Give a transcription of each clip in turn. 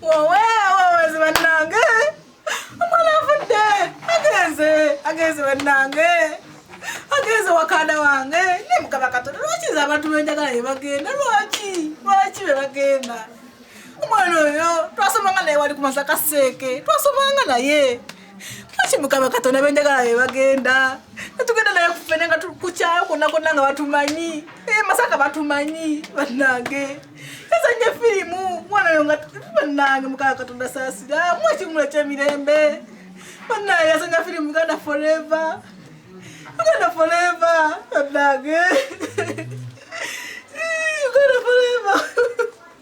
oweawawazi bannange omwana avudde agenze agenze bannange agenze wakanda wange ne mukama katonda lwaki nze abantu benjagala ye bagenda lwaki lwaki be bagenda omwana oyo twasomanga naye wali ku masaka seeke twasomanga naye Kati mukama katonda benjagala be bagenda netugenda naye kufene nga kukyayo konna konna nga batumanyi eh, masaka batumanyi banange ezanye firimu mwana oyo nga banange mukama katonda saasira mu ekimula kyemirembe banange azanya firimu uganda forever uganda forever banange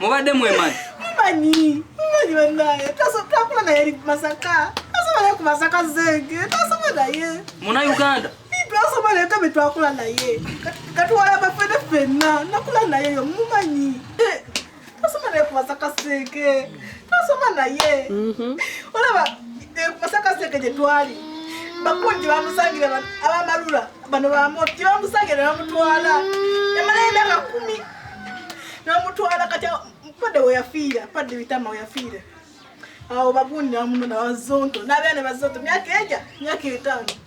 mubadde mwemanyi mumanyi mumanyi banaye twakula naye ali kumasaka twasoma naye kumasaka zenge twasoma naye muna uganda twasoma naye kabe twakula naye katuwala bafene fenna nakula naye yo mumanyi Tasoma naye kubaza kaseke. Tasoma naye. Mhm. Olaba eh, kubaza kaseke gye twali. Bakunji bamusangira ba- abamalula bano bamoti gye bamusangira bamutwala. Yamala emyaka kumi. Namutwala kati awo- padde we yafiira padde bitama we yafiira. Awo bagundi namuno na bazonto n'abaana bazonto myaka eja myaka etaano.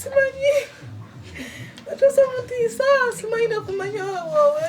simanyi batuusa mutiisa simanyi nakumanya wawawe